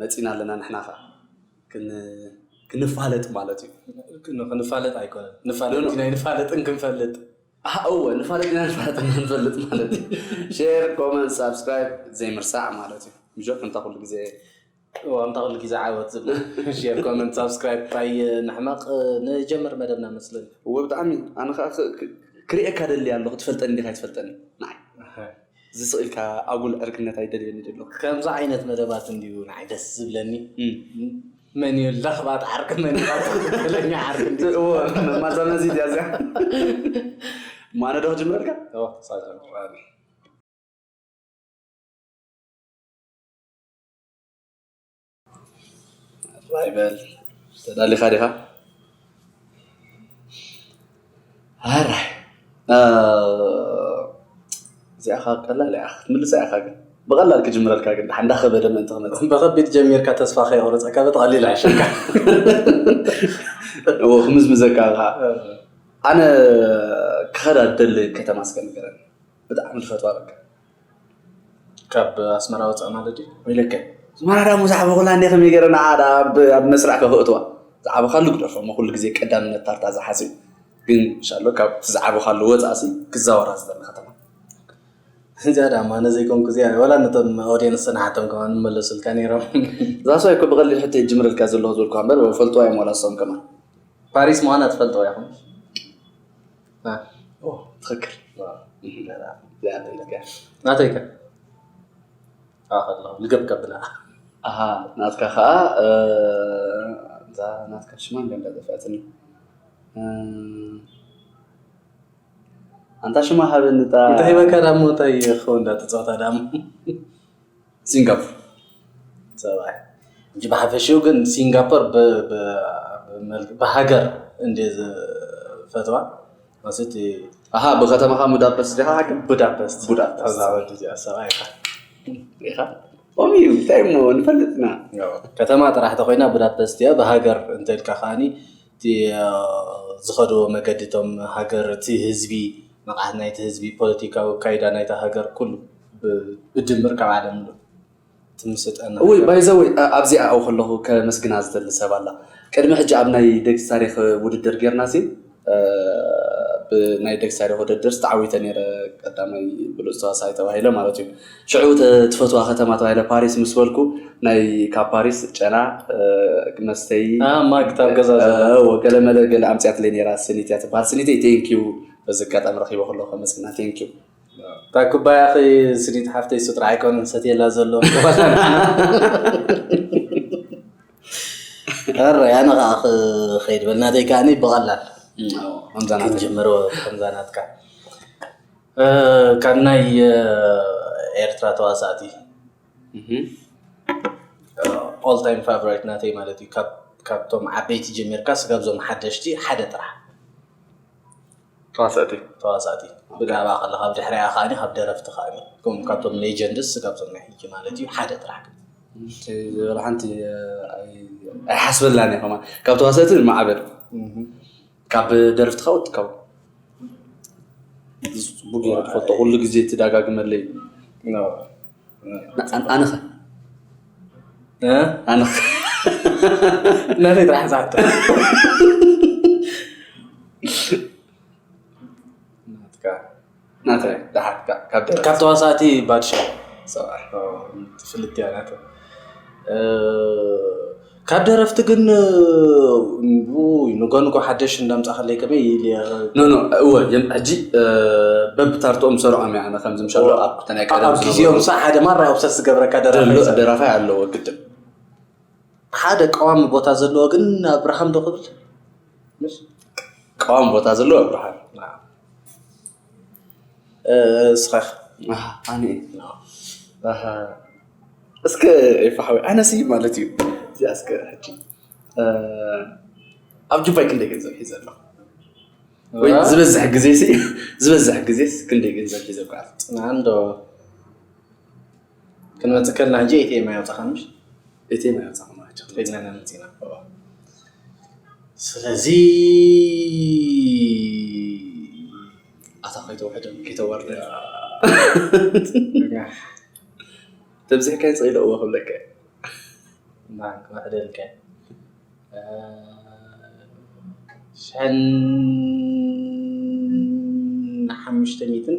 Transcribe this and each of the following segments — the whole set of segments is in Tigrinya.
መጺና ኣለና ንሕና ከኣ ክንፋለጥ ማለት እዩ ክንፋለጥ ኣይኮነን ንፋለጥ ኢና ይንፋለጥን ክንፈልጥ እወ ንፋለጥ ኢና ንፋለጥ ንፈልጥ ማለት እዩ ሼር ኮመንት ሳብስክራይብ ዘይምርሳዕ ማለት እዩ ምሾ ከምታ ኩሉ ግዜ ከምታ ኩሉ ግዜ ዓወት ዝብላ ሼር ኮመንት ሳብስክራይብ ታይ ንሕመቕ ንጀምር መደብና መስለኒ እወ ብጣዕሚ ኣነ ከዓ ክርእየካ ደሊ ኣሎ ክትፈልጠኒ እንዲካ ይትፈልጠኒ ንዓይ ዝስቅ ኢልካ ኣጉል ዕርክነት ኣይደልየን ድሎ። ከምዚ ዓይነት መደባት እንድዩ ንዓይ ደስ ዝብለኒ መን እዩ ለኽባጥ ዓርኪ መን እዩ ትክክለኛ ዓርኪ እንድዩ እወ መማዛመዚ ድያ እዚኣ ማነ ዶ ክጅምረልካ እወ ክሳብ ጀምር ራይ በል ተዳሊኻ ዲኻ ሃራይ እዚኣ ከኣ ቀላል እያ ክትምልሳ ኢኻ ግን ብቐላል ክጅምረልካ ግን ድሓን እንዳኸበደ ምእንቲ ክመጽእ ብኸቢድ ጀሚርካ ተስፋ ከየቑረጸካ ብተቐሊል ኣይሸካ እዎ ክምዝምዘካ ከኣ ኣነ ክኸዳ ደሊ ከተማ እስከ ንገረኒ ብጣዕሚ ዝፈትዋ በቃ ካብ ኣስመራ ወፃእ ማለት ድዩ? ወይለከ ኣስመራ ድኣ ምስ ዓበኹላ እንድየ ከመይ ገይረ ንዓ ድኣ ኣብ መስርዕ ከኽእትዋ ዝዓበኻሉ ግደፎ እሞ ኩሉ ግዜ ቀዳምነት ታርታ ዝሓዝን ግን እንሻሎ ካብቲ ዝዓበኻሉ ወፃእ ሲ ክዛወራ ዝደሊ ከተማ እዚኣ ድኣ ማነ ዘይኮንኩ እዚኣ ወላ ነቶም ኦድየንስ ንሓቶም ከማን ምመለሱልካ ነይሮም እዛ ሰበይ እኮ ብቐሊል ሕቶ እየ ዝጅምረልካ ዘለኹ ዝበልኩኻ እምበር ይፈልጡዋ እዮም ዋላ ንሶም ከማን ፓሪስ ምዃና ትፈልጡዋ ኢኹም? ትክክል ናተይ ከ ልገብከ ብላ ናትካ ከዓ እዛ ናትካ ሽማ ገንዳ ዘፍያትኒ ኣንታ ሽማ ሃበኒ እንታይ መከራ ሞ እንታይ ክኸውን እንዳተፃወታ ደኣ ሲንጋፖር ፀባይ እንጂ ብሓፈሽኡ ግን ሲንጋፖር ብሃገር እንደ ፈተዋ ማለት ኣሃ ብከተማኻ ቡዳፐስት ዲኻ ሓቂ ቡዳፐስት ቡዳፐስት ኣዛ ወዲ እዚኣ ሰብኣይ ኢኻ ኢኻ ኦም እዩ እንታይ እሞ ንፈልጥና ከተማ ጥራሕ ተኮይና ቡዳፐስት እያ ብሃገር እንተልካ ከዓኒ እቲ ዝኸድዎ መገዲ እቶም ሃገር እቲ ህዝቢ ንቕሓት ናይቲ ህዝቢ ፖለቲካዊ ኣካይዳ ናይታ ሃገር ኩሉ ብድምር ካብ ዓለም ምሉእ እቲ ምስልጣን ናይ እውይ ባይ ዘ ወይ ኣብዚኣ ኣብኡ ከለኹ ከመስግና ዝደሊ ሰብ ኣላ ቅድሚ ሕጂ ኣብ ናይ ደግሲ ታሪኽ ውድድር ጌርናሲ ብ ናይ ደግሲ ታሪኽ ውድድርሲ ተዓዊተ ኔረ ቀዳማይ ብሉጽ ተዋሳኣይ ተባሂለ ማለት እዩ ሽዑ ትፈትዋ ከተማ ተባሂለ ፓሪስ ምስ በልኩ ናይ ካብ ፓሪስ ጨና መስተዪ ኣ ማግት ኣብ ገዛ ዘላ እዎ ገለ መለ ገለ ኣምጺኣትለይ ኔራ ስኒት እያ ትብሃል ስኒተይ ቴንክ ዩ በዚ ኣጋጣሚ ረኺበ ከለኹ ከመስግና ቴንክ ዩ እታ ኩባያኺ ስኒት ሓፍተይ እሱ ጥራሕ ኣይኮነን ዝሰትየላ ዘሎ እረ ኣነ ከዓ ክኸይድ በልናተይ ከዓኒ ብቐላል ከምዛ ናተይ ክንጅምሮ ከምዛ ናትካ ካብ ናይ ኤርትራ ተዋሳእቲ ኦል ታይም ፋቨራይት ናተይ ማለት እዩ ካብቶም ዓበይቲ ጀሚርካ ስጋብ ዞም ሓደሽቲ ሓደ ጥራሕ ተዋሳእቲ ተዋሳእቲ ብዛዕባ ከለካ ኣብ ድሕሪያ ከዓ ካብ ደረፍቲ ከዓ ከም ካብቶም ሌጀንድስ ስጋብ ዞም ናይ ሕጂ ማለት እዩ ሓደ ጥራሕ ዝበል ሓንቲ ኣይሓስበላን እየ ከማ ካብ ተዋሳእቲ ማዕበል ካብ ደርፍትኻ ወድካው ጽቡቅ ገይረ ትፈልጦ ኩሉ ግዜ ትደጋግመለይ ኣነኸ ኣነኸ ናተይ ጥራሕ ዝሓቶ ናተይ ደሓትካ ካብ ደረስ ካብ ተዋሳእቲ ባድሻ ሰብኣይ ትፍልጥ እያ ናተ ካብ ደረፍቲ ግን ንጎንጎ ሓደሽ እንዳምፃኸለይ ከመይ ኢል ኖኖ እወ ሕጂ በብታርትኦም ሰርዖም እያ ኣነ ከምዚ ምሻሎ ኣብ ክተናይ ቀደም ኣብ ግዜኦም ሳ ሓደ ማራ ውሰስ ዝገብረካ ደራፋይ ኣለዎ ግድን ሓደ ቀዋሚ ቦታ ዘለዎ ግን ኣብርሃም ዶ ክብል ቀዋሚ ቦታ ዘለዎ ኣብርሃም እስኻክ ኣህ ኣነ ኣህ እስከ ኤፋ ሓወይ ኣነሲ ማለት እዩ እዚኣ እስከ ሕጂ ኣብ ጁባይ ክንደይ ገንዘብ ሒዘ ኣለኹ? ወይ ዝበዝሕ ግዜሲ ዝበዝሕ ግዜስ ክንደይ ገንዘብ ሒዘ እጓዓዝ? ክንመጽእ ከለና ሕጂ ኤቲኤም ኣየውጻእካን ምሽ ኤቲኤም ኣየውጻእካን ማለት እዩ ከይድና ኢና መጺእና ስለዚ ኣታ ከይተውሕደን ከይተዋርደን ተብዚሕካዮ ጽኢለ እዎ ክብለካ ማን ክውሕደልካ ሸን ሓሙሽተ ሚእትን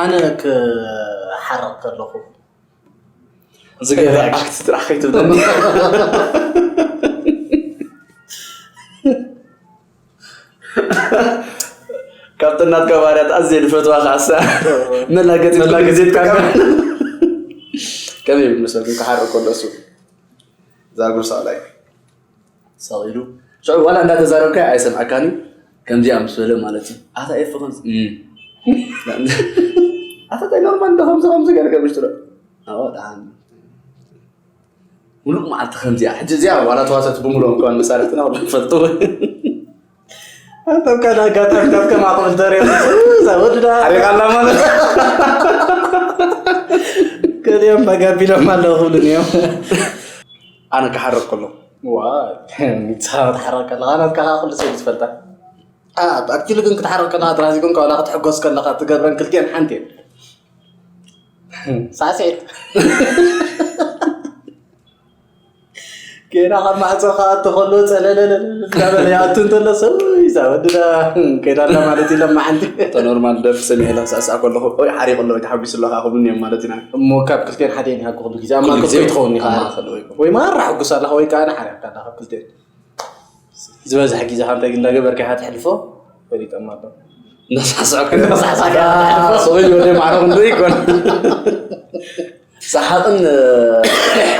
ኣነ ክሓርቕ ከለኹ ዝገበረ ኣክት ጥራሕ ከይትብለኒ ካብቲ ናትካ ባህርያት ኣዝየ ዝፈትዋ ከዓ ሳ መላገፂ መላገፂ ትጥቀም ከመይ ይብል መሰልኩም ክሓርቕ ከሎ እሱ ዛጉርሳ ላይ ሰቂሉ ሽዑ ዋላ እንዳተዛረብካዮ ኣይሰምዐካን እዩ ከምዚኣ ምስ በለ ማለት እዩ ኣታ ኤፊ ከምዚ ኣታ ታይ ኖርማል እንዶ ከምዚ ከምዚ ገለ ከምሽ ትሎ ኣዎ ደሓን ሙሉእ መዓልቲ ከምዚኣ ሕጂ እዚኣ ዋላ ተዋሰቲ ብምሉኦም ከማን መሳርሕትና ንፈልጦ ኣንተም ካዳ ጋታታት ከማኹም እንተሪኦምዛ ወድዳ ሓሪቓላ ማለት ገሊኦም መጋቢሎም ኣለዉ ክብሉን እዮም ኣነ ክሓርቕ ከሎ ሚሳብ ትሓርቕ ከለካ ናትካ ከዓ ኩሉ ሰብ ዝፈልጣ ኣክቲሉ ግን ክትሓርቕ ከለካ ጥራሕ ዘይኮን ካብላ ክትሕጎስ ከለካ ትገብረን ክልቲኤን ሓንቲ እየን ሳዕስዒት ገና ካብ ማዕፆ ክኣቶ ከሎ ፀለለለ እንዳበለ ይኣቱ እንተሎ ሰብ እዛ ወድዳ ከይዳ ኣላ ማለት እዩ ለማ ሓንቲ እቶ ኖርማል ደርፊ ሰሚዐ ኢላ ሳዕሳዕ ከለኹ ወይ ሓሪቑ ኣሎ ወይ ተሓጒሱ ኣሎ ከዓ ክብሉኒ እዮም ማለት ኢና እሞ ካብ ክልቲኤን ሓደ ይሃኩ ኩሉ ግዜ ኣብ ማእከል ኮይ ትኸውን ኢኻ ወይ ማራ ሕጉስ ኣለኻ ወይ ከዓ ንሓሪቕካ ኣለኻ ካብ ክልቲኤን ዝበዝሐ ግዜ ከ እንታይ እንዳገበርካ ኢኻ ተሕልፎ ፈሊጠማ ኣሎ እንዳሳዕሳዕካ እንዳሳዕሳዕካ ወይ ወደ ማዕረቕ እንዶ ይኮን ሰሓቕን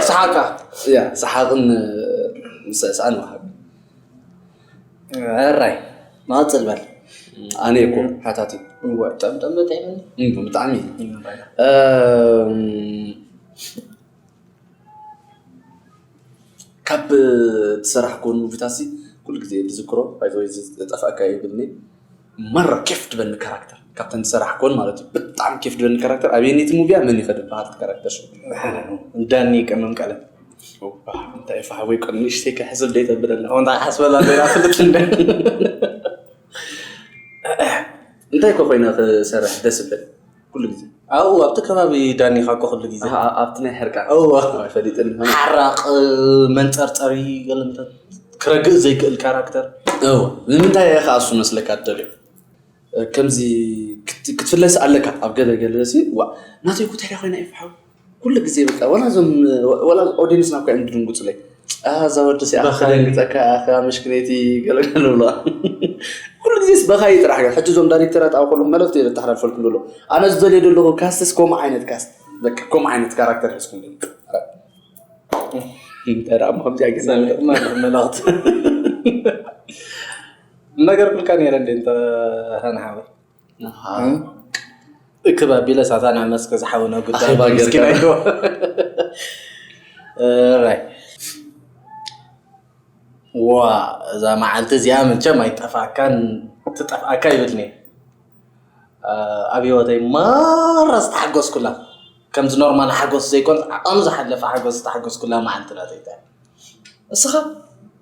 ሰሓቕካ እያ ሰሓቕን ምስዕሳዕን ወሃቢ ዕራይ መቐፅል በል ኣነ እኮ ሓታቲ እወ ጠምጠም በጣዕሚ ብጣዕሚ ካብ ትሰራሕኮን ሙቪታት ሲ ኩሉ ግዜ ዝዝክሮ ባይዘወይ ዝጠፍኣካ ይብልኒ መራ ኬፍ ትበኒ ካራክተር ካብተን ዝሰራሕ ኮን ማለት እዩ ብጣዕሚ ኬፍ ትበኒ ካራክተር ኣብየነይቲ ሙቪያ መን ይኸ ድበሃል ካራክተር ሽ ዳኒ ቀመም ቀለም እንታይ ፋሕወይ ቆ ንእሽተይ ክሕስብ ደይ ተብለና እንታይ ሓስበላ ዜና ፍልጥ እንደ እንታይ ኮ ኮይና ክሰርሕ ደስ ብል ኩሉ ግዜ ኣብኡ ኣብቲ ከባቢ ዳኒኻ እኮ ኩሉ ግዜ ኣብቲ ናይ ሕርቃ ፈሊጥን ሓራቕ መንፀርፀሪ ገለምታት ክረግእ ዘይክእል ካራክተር እወ ንምንታይ ኢኻ እሱ መስለካ ትደልዮ ከምዚ ክትፍለስ ኣለካ ኣብ ገለ ገለ ሲ ዋ ናተይ ኩትሕሪ ኮይና ይፍሓው ኩሉ ግዜ በቃ ዋላ እዞም ዋላ ኦዲየንስና እኮ እዮም ዝድንግፁለይ ኣዛ ወዲ ሲኣ ክደንግፀካ ኣኻ መሽክነይቲ ገለገለ ብለዋ ኩሉ ግዜስ በኻይ ጥራሕ ሕጂ እዞም ዳይሬክተራት ኣብ ከለኹ መልእኽቲ እየ ዘተሓላልፈልኩም ዘሎ ኣነ ዝደልዮ ዘለኹ ካስትስ ከምኡ ዓይነት ካስት በቃ ከምኡ ዓይነት ካራክተር ሕዝኩም እንተዳ ከምዚያ ግን መልእኽቲ ነገርኩልካ ነይረ እንደ እንተ ሃንሓወይ እክብ ኣቢለ ሳታ ናብ መስክ ዝሓውነ ጉዳይ ኣኼባ ጌርካ። ምስኪን ኣይኮ እራይ ዋ እዛ መዓልቲ እዚኣ ምቸም ኣይጠፍኣካን ትጠፍኣካ ይብልኒ ኣብ ህይወተይ ማራ ዝተሓጎስኩላ ከምዚ ኖርማል ሓጎስ ዘይኮን ዓቐኑ ዝሓለፈ ሓጎስ ዝተሓጎስኩላ መዓልቲ ናተይታ እስኻ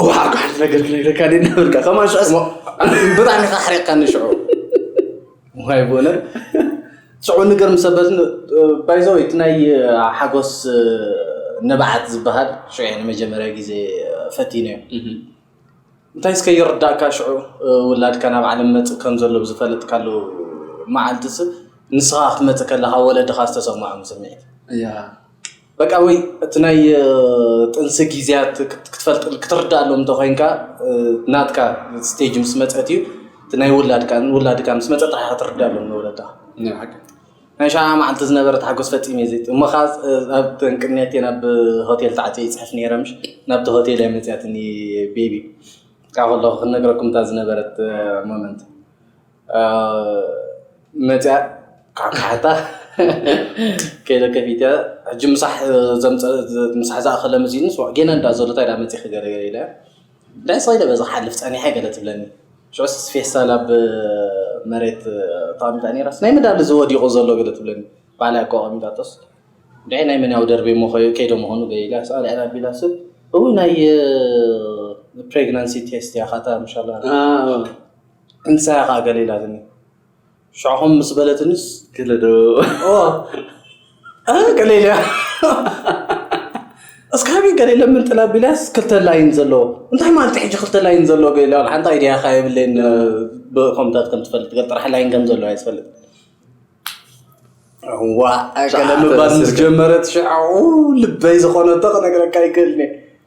እዋ ጓሕቲ ነገር ክነግረካ ደ ነበርካ ከማ ሽዑስ ብጣዕሚ ካ ሓሪቕካኒ ሽዑ ዋይ ቦነ ሽዑ ንገር ምሰበት ባይዘው እቲ ናይ ሓጎስ ንብዓት ዝበሃል ሽዑ ንመጀመርያ ግዜ ፈቲነ እዩ እንታይ እስከ ይርዳእካ ሽዑ ውላድካ ናብ ዓለም መፅ ከም ዘሎ ብዝፈለጥካሉ መዓልቲ ስ ንስኻ ክትመፅእ ከለካ ወለድኻ ዝተሰምዖም ስምዒት በቃ ወይ እቲ ናይ ጥንሲ ግዜያት ክትፈልጥ ክትርዳኣሎም እንተኮይንካ ናትካ ስቴጅ ምስ መፀት እዩ እቲ ናይ ውላድካ ውላድካ ምስ መፀ ጥራሕ ክትርዳኣሎም ንወለድኻ ናይ ሸዓ መዓልቲ ዝነበረ ተሓጎስ ፈፂመ እየ ዘይት እሞ ከዓ ኣብ ቅንያት እየ ናብ ሆቴል ተዓፅየ ይፅሕፍ ነይረ ምሽ ናብቲ ሆቴል እያ መፅያትኒ ቤቢ ካብ ከለኹ ክንነግረኩም እታ ዝነበረት ሞመንት መፅኣ ካካሕታ ከይደ ከፊተ ሕጂ ምሳሕ ምሳሕ ዝኣኸለ መሲኒ ስዋ ጌና እንዳ ዘሎ እንታይ ዳ መፂኺ ገለ ገለ ኢለ እንታይ ስቕ ኢለ በዚ ክሓልፍ ፀኒሐ ገለ ትብለኒ ሽዑስ ፌስታል ኣብ መሬት ተቐሚጣ ነይራስ ናይ ምንድኣ እዚ ወዲቑ ዘሎ ገለ ትብለኒ ባዕላ እኮ ኣቐሚጣቶስ እንድዒ ናይ መን እያ ኣውደርብየ እሞ ከይደ ምዃኑ ገለ ኢለ ስቕ ኣልዒለ ኣቢላ ስብ እውይ ናይ ፕሬግናንሲ ቴስት እያ ካታ ምሻላ እንታይ ኢኻ ገለ ኢላትኒ ሽዕኹም ምስ በለትንስ ገለ ዶ ገለ ኢለ እስካቢ ገለ ለምን ጥላ ቢላስ ክልተ ላይን ዘለዎ እንታይ ማለት ሕጂ ክልተ ላይን ዘለዎ ገለ ሓንቲ ኣይዲያ ካ የብለይን ብኮምታት ከም ትፈልጥ ገል ጥራሕ ላይን ከም ዘለዎ ኣይትፈልጥ ዋ ገለ ምባል ምስ ጀመረት ሽዕኡ ልበይ ዝኾነቶ ክነግረካ ይክእልኒ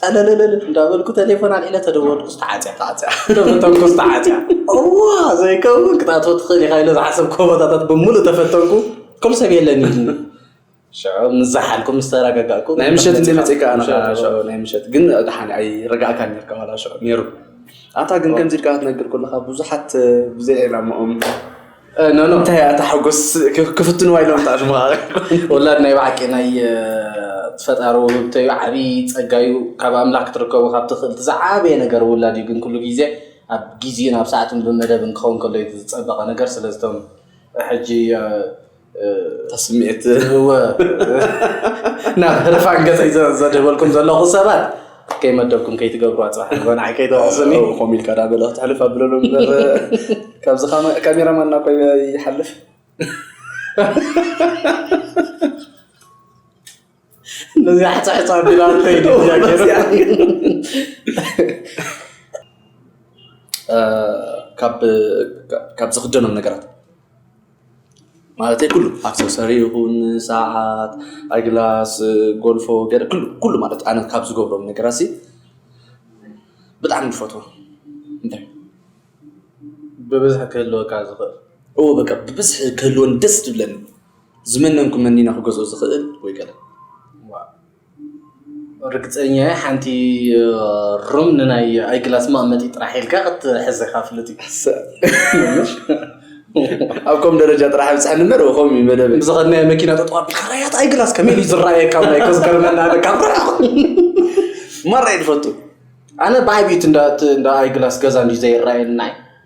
ፀለለለል እንዳበልኩ ቴሌፎን ኣልዒለ ተደወልኩ ዝተዓፅያ ተዓፅያ ተፈተንኩ ዝተዓፅያ እዋ ዘይከውን ክትኣትዎ ትኽእል ኢኻ ኢለ ዝሓሰብኩ ቦታታት ብምሉእ ተፈተንኩ ከም ሰብ የለን ኢልኒ ሽዑ ምስ ዝሓልኩ ምስ ተረጋጋእኩ ናይ ምሸት እንደ መፅእካ ናይ ምሸት ግን ድሓን ኣይረጋእካ ነርካ ዋላ ሽዑ ነይሩ ኣታ ግን ከምዚ ኢልካ ክትነግር ከለካ ብዙሓት ብዘይ ዕላማኦም ኖ ኖ እንታይ እያ እታ ሓጎስ ክፍትንዋ ኢሎም ተኣሽሙኻ ወላድ ናይ ባዕቂ ናይ ፈጣሪ ውህብቶ እዩ ዓብዪ ጸጋ እዩ ካብ ኣምላኽ ክትርከቦ ካብ ትኽእል እቲ ዝዓበየ ነገር ውላድ እዩ ግን ኩሉ ግዜ ኣብ ግዜን ኣብ ሰዓትን ብመደብን ክኸውን ከሎ እዩ ዝጸበቐ ነገር ስለዝቶም ሕጂ ስምዒት ናብ ህርፋን ገጸይ ዘድህበልኩም ዘለኹ ሰባት ከይ መደብኩም ከይ ትገብሩ ኣጻሕ ንዓይ ከይ ተወቅስኒ ኮም ኢልካ ዳ በለ ክትሕልፍ ኣብለሉ እምበር ካብዚ ካሜራማን ናኮ ይሓልፍ ነዚ ሓጻሕጻ ቢላ ከይድ ካብ ዝኽደኖም ነገራት ማለተይ ኩሉ ኣክሰሰሪ ይኹን ሰዓት፣ ኣይ ግላስ፣ ጎልፎ ገለ ኩሉ ኩሉ ማለት ኣነ ካብ ዝገብሮም ነገራትሲ ብጣዕሚ ዝፈትዎ እንታይ እዩ? ብብዝሒ ክህልወካ ዝኽእል? እወ በቃ ብብዝሒ ክህልወኒ ደስ ዝብለኒ ዝመነንኩ መኒነ ክገዝኦ ዝኽእል ወይ ገለ። ርግጸኛ እየ ሓንቲ ሩም ንናይ ኣይግላስ መቐመጢ ጥራሕ ኢልካ ክትሕዘካ ፍሉጥ እዩ ኣብ ከም ደረጃ ጥራሕ ብፅሐኒ እምበር እኹም እዩ መደብ ብዝኸድናዮ መኪና ጠጠዋ ቢልካ ራያት ኣይግላስ ከመይ እዩ ዝረኣየካ ናይ ከዝገርመና ካብ ርሕቕ ማራ እየ ዝፈቱ ኣነ ብዓብዪት እንዳ ኣይግላስ ገዛ እንዲ ዘይረኣየና እዩ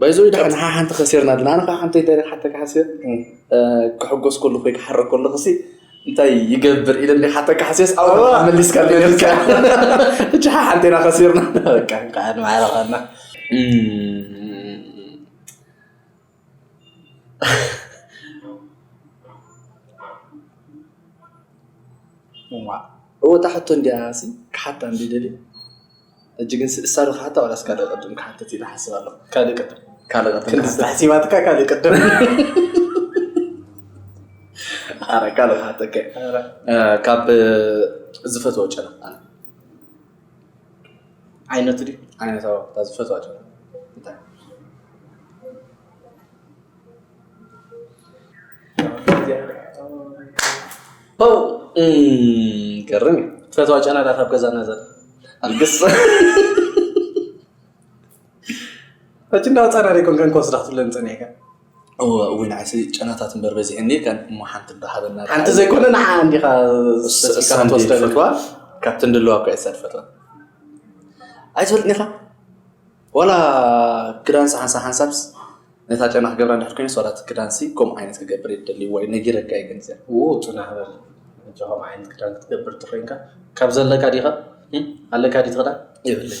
ባይዘወይ ደሓን ንሓ ሓንቲ ከሲርና ድና ኣነ ከኣ ሓንቲ ኣይተረሓተካ ሓሲር ክሕጎስ ከለኹ ወይ ክሓርቅ ከለኹ ሲ እንታይ ይገብር ኢለ እንደ ሓተካ ሓሲርስ ኣብ መሊስካ ልካ እቺ ሓ ሓንቲ ኢና ከሲርና በቃ እንኳዕ ማዕረኸና እወ እታ ሕቶ እንዲያ ሲ ክሓታ እንደ ደልየ ሕጂ ግን ስድሳ ዶ ክሓታ ዋላስ ካልእ ቅድም ክሓትት ኢለ ሓስብ ኣለኹ ካልእ ቅድም ካልእ ቅድም ክንዲ ክሓትት። ዝተሕሲባትካ ካልእ ቅድም ኣረ ካልእ ክሓተከ ካብ ዝፈትዎ ጨና ኣነ ዓይነቱ ድዩ ዓይነታዊ እታ ዝፈትዋ ጨና እንታይ ገርም እዩ ትፈትዋ ጨናታት ኣብ ገዛና ዘ ኣልግስ ሕጂ እንዳወፃና ደይኮን ከን ክወስዳ ክትብለን ፀኒሕካ እውን ዓሲ ጨናታት እምበር በዚሐኒ ከን እሞ ሓንቲ እንዳሃበና ሓንቲ ዘይኮነ ንሓ እንዲኻ እሳን ትወስደ ፈትዋ ካብቲ እንድለዋ እኳ እሳ ትፈትዋ ኣይትፈልጥኒኻ ዋላ ክዳንሲ ሓንሳብ ሓንሳብስ ነታ ጨና ክገብራ እንድሕር ኮይነስ ዋላ እቲ ክዳንሲ ከምኡ ዓይነት ክገብር እየ ደልይዎ እዩ ነጊረካ እየ ግን እዚኣ ው ፅናሕ በል ሕጂ ከምኡ ዓይነት ክዳን ክትገብር እንተኮይንካ ካብ ዘለካ ዲኻ ኣለካ ዲቲ ክዳን ይብለይ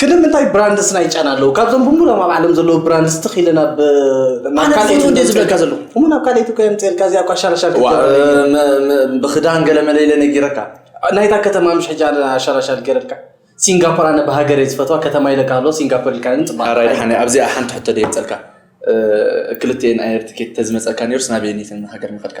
ክልም እንታይ ብራንድስ ናይ ጨና ኣለዉ ካብዞም ብምሎም ኣብ ዓለም ዘለዉ ብራንድስ ትኽ ኢለ ናብ ናብ ካልኦት እንደ ዝብለካ ዘለዉ እሞ ናብ ካልኦት እኮ የምፅልካ እዚኣ እኳ ሻራሻር ብክዳን ገለ መለለ ነጊረካ ናይታ ከተማ ምሽ ሕጂ ሻራሻር ገረልካ ሲንጋፖር ኣነ ብሃገር እየ ዝፈትዋ ከተማ ኢለካ ኣሎ ሲንጋፖር ኢልካ ፅባ ራይ ሓነ ኣብዚኣ ሓንቲ ሕቶ ደ የምፀልካ ክልተኤን ኣየር ትኬት ተዝመፀካ ነሩስ ናበየኒትን ሃገር ምኸድካ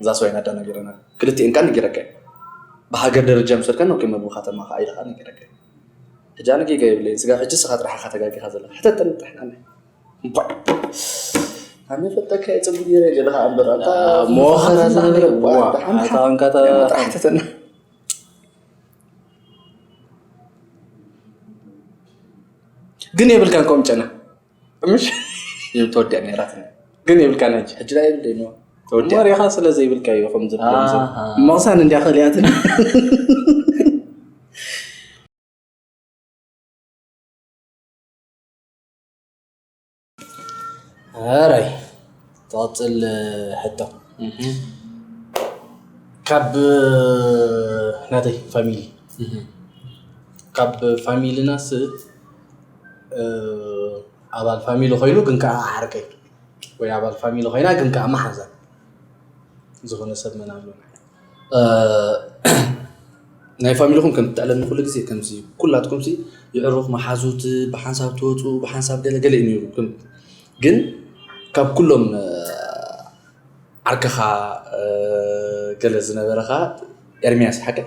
እዛ ሰበይና ኣዳ ነገረና ክልቲኤን ከኣ ነጊረካ እየ ብሃገር ደረጃ ምስ በልካ ኖኬ መግቢ ከተማ ከኣ ኢለ ከኣ ነጊረካ እየ ሕጂ ኣነ ጌጋ የብለይን ስጋብ ሕጂ ንስኻ ጥራሕ ኢኻ ተጋጊኻ ዘለኻ ሕተተኒ ጥራሕ ንዓይ እምቧእ ኣነ ፈልጠካ እየ ጽቡቅ ጌረ ገለ ከኣ እምበር ኣንታ ሞኸራ ዝነበረ ዋ ኣታ ኣንካታ ጥራሕ ሕተተኒ ግን የብልካን ከምኡ ጨና ምሽ ተወዲያ ነራት ግን የብልካን ሕጂ ሕጂ ዳኣ የብለይ ነው ተወዲያ ወሬኻ ስለ ዘይብልካ እዩ ከም ዝብሎም ሰብ ኣሃ። መቕሳን እንዲያ ከሊያትን ኣራይ ትቐፅል ሕቶ ካብ ናተይ ፋሚሊ ካብ ፋሚልናስ ኣባል ፋሚሊ ኮይኑ ግን ከዓ ዓርከይ ወይ ኣባል ፋሚሊ ኮይና ግን ከዓ መሓዛ ዝኾነ ሰብ መን ኣሎ ናይ ፋሚሊኹም ከም ትዕለኒ ኩሉ ግዜ ከምዚ ኩላትኩም ሲ ይዕሩኽ መሓዙት ብሓንሳብ ትወፁ ብሓንሳብ ገለ ገለ እዩ ነይሩ ግን ካብ ኩሎም ዓርከኻ ገለ ዝነበረኻ ኤርሚያስ ሓቀይ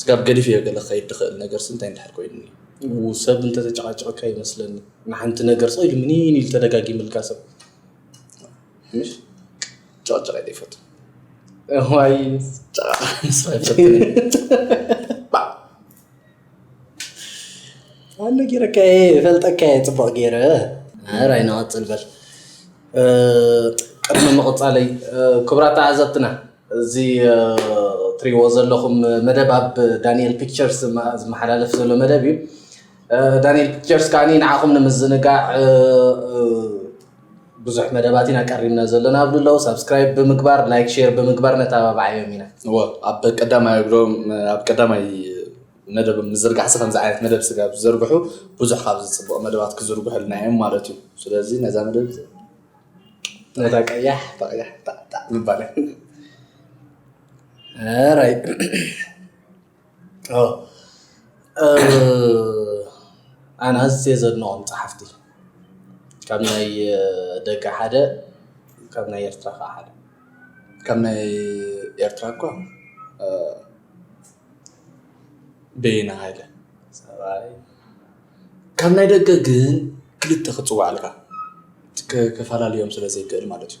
ስጋብ ገዲፈዮ ገለ ክኸይድ ዝኽእል ነገርሲ እንታይ እንድሕር ኮይኑኒ ሰብ እንተተጨቓጨቐካ ይመስለኒ ንሓንቲ ነገር ስቕ ኢሉ ምኒን ኢሉ ተደጋጊምልካ ሰብ ምሽ ጨቕጨቕ ኢለ ይፈቱ ዋይ ጨቓ ምስ ባዕ ኣነ ጌረካ እየ እፈልጠካ እየ ፅቡቕ ጌረ ራይ ንቐፅል በል ቅድሚ ምቕፃለይ ክብራት ተዓዘብትና እዚ ትሪዎ ዘለኹም መደብ ኣብ ዳንኤል ፒክቸርስ ዝመሓላለፍ ዘሎ መደብ እዩ ዳንኤል ፒክቸርስ ከዓኒ ንዓኹም ንምዝንጋዕ ብዙሕ መደባት ኢና ቀሪብና ዘሎና ኣብሉ ኣለዉ ሳብስክራይብ ብምግባር ላይክ ሼር ብምግባር ነተባብዓዮም ኢና እዎ ኣብ ቀዳማይ እግሮም ኣብ ቀዳማይ መደብ ምዝርጋሕሲ ከምዚ ዓይነት መደብ ስጋ ዝዘርግሑ ብዙሕ ካብ ዝፅብቕ መደባት ክዝርግሑልና እዮም ማለት እዩ ስለዚ ነዛ መደብ ነታ ቀያሕ ተቐያሕ ጣዕጣዕ ምባል ራይ ኣነ ኣዝየ ዘድንቖም ጸሓፍቲ ካብ ናይ ደገ ሓደ ካብ ናይ ኤርትራ ከኣ ሓደ ካብ ናይ ኤርትራ እኳ በየነ ሃይለ ሰብኣይ ካብ ናይ ደገ ግን ክልተ ክጽውዓልካ ክፈላልዮም ስለ ዘይክእል ማለት እዩ።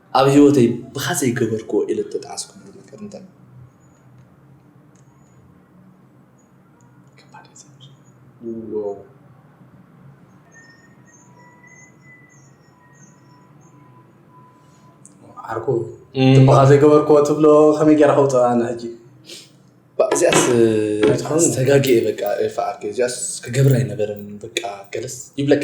ኣብ ህይወተይ ብኻ ዘይገበርክዎ ኢለ እተጣዓስኩሉ ነገር እንታይ እዩ? ዓርኩ ብኻ ዘይገበርክዎ ትብሎ ከመይ ጌራ ከውፅኣ ኣነ ሕጂ እዚኣስ ተጋጊኤ በቃ ኤፋ ዓርከይ እዚኣስ ክገብራ ኣይነበረን በቃ ገለስ ይብለካ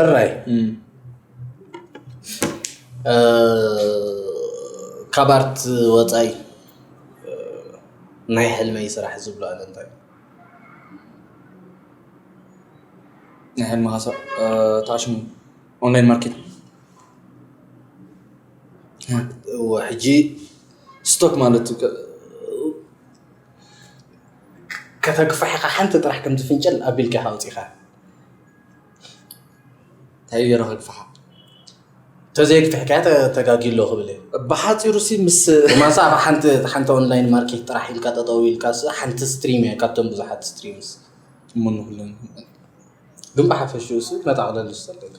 እራይ ካብ ኣርት ወፃኢ ናይ ሕልመይ ስራሕ ዝብሎ ኣለ እንታይ ናይ ሕልምኻ ስራሕ ተዓሽሙ ኦንላይን ማርኬት እወ ሕጂ ስቶክ ማለት ከተግፋሕ ኢኻ ሓንቲ ጥራሕ ከምዚ ፍንጭል ኣቢልካ ኢኻ ወጺኻ እንታይ ገይረ ከግፍሓ ተዘይግፍሕ ከያ ተጋጊ ኣሎ ክብል እየ ብሓፂሩ ሲ ምስ ማሳ ኣብ ሓንቲ ሓንቲ ኦንላይን ማርኬት ጥራሕ ኢልካ ጠጠው ኢልካ ሓንቲ ስትሪም እያ ካብቶም ብዙሓት ስትሪምስ እሞ ንኩለን ግን ብሓፈሽኡ ሲ መጠቕለሊ እስቲ እንተልካ።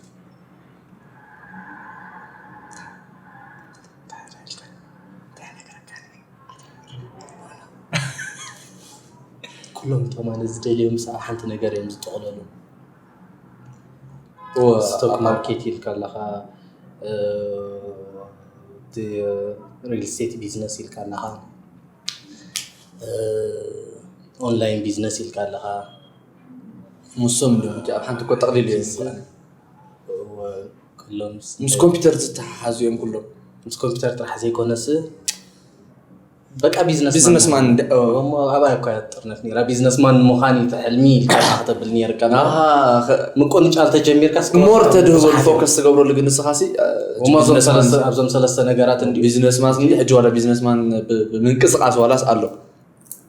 ኩሎም እቶም ኣነ ዝደልዮም ምስ ኣብ ሓንቲ ነገር እዮም ዝጠቕለሉ ስቶክ ማርኬት ኢልካ ኣለኻ ሪል ስቴት ቢዝነስ ኢልካ ኣለኻ ኦንላይን ቢዝነስ ኢልካ ኣለኻ ሙሶም ልምዲ ኣብ ሓንቲ እኮ ጠቕሊሉ እዮም ዝሰኣኑ። ኩሎም ምስ ኮምፒተር ዝተሓሓዙ እዮም ኩሎም። ምስ ኮምፒተር ጥራሕ ዘይኮነስ በቃ ቢዝነስ ቢዝነስ ማን እሞ ኣባይ እኳ ጥርነት ነይራ ቢዝነስ ማን ምዃን እዩ ሕልሚ ኢልካ ክትብል ነይርካ ምቁንጫል ተጀሚርካ ሞር ተድህበሉ ፎከስ ትገብረሉ ግን ንስኻ ሲ ኣብዞም ሰለስተ ነገራት ቢዝነስ ማን ሕጂ ዋላ ቢዝነስ ማን ብምንቅስቃስ ዋላስ ኣሎ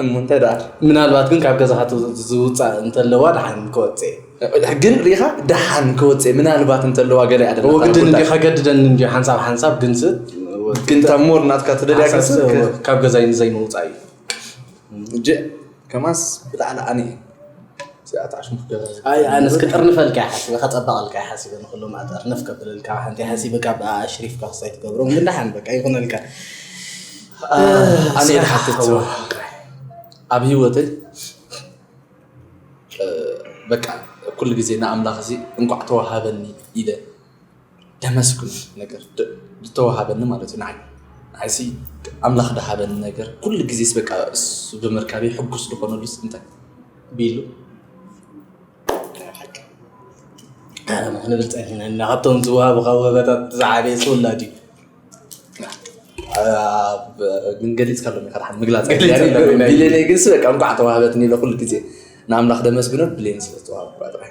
እሞ እንታይ ደኣ ምናልባት ግን ካብ ገዛኻ ዝውፃእ እንተለዋ ደሓን ክወፅእ ግን ሪኢኻ ደሓን ክወፅእ ምናልባት እንተለዋ ገለ እያ ወግድን እንዲ ከገድደን እንዲ ሓንሳብ ሓንሳብ ግንስ ግን እታ ሞር ናትካ ትደልያ ግንስ ካብ ገዛይ ንዘይምውፃእ እዩ ከምኣስ ብጣዕሊ ኣነ እዚኣታ ኣሽሙር ገዛ ዝብል ኣይ ኣነስ ክጥርንፈልካ እየ ሓሲበ ከፀበቐልካ እየ ሓሲበ ንኩሉ ማእት ኣርነፍ ከብለልካ ሓንቲ ሓሲበ ካብ ኣሽሪፍካ ክሳይ ትገብሮም ግን ደሓን በቃ ይኹነልካ ኣነ ዝሓትት ኣብ ህይወተይ በቃ ኩሉ ግዜ ንኣምላኽ እዚ እንኳዕ ተዋሃበኒ ኢለ ደመስግን ነገር ዝተዋሃበኒ ማለት እዩ ንዓይ ንዓይሲ ኣምላኽ ደሃበኒ ነገር ኩሉ ግዜስ በቃ እሱ ብምርካቤ ሕጉስ ዝኾነሉስ እንታይ ቢሉ ንብልፀ እና ካብቶም ዝዋሃቡካ ወበታት ዝዓበየ ዝውላድ እዩ ግን ገሊፅካ ሎም ኢካ ድሓን ምግላፅ ቢሌነይ ግንስ በቃ እንኳዕ ተዋህበትኒ ኢለ ኩሉ ግዜ ንኣምላኽ ደመስግኖ ብሌን ስለዝተዋሃብኩ ጥራሕ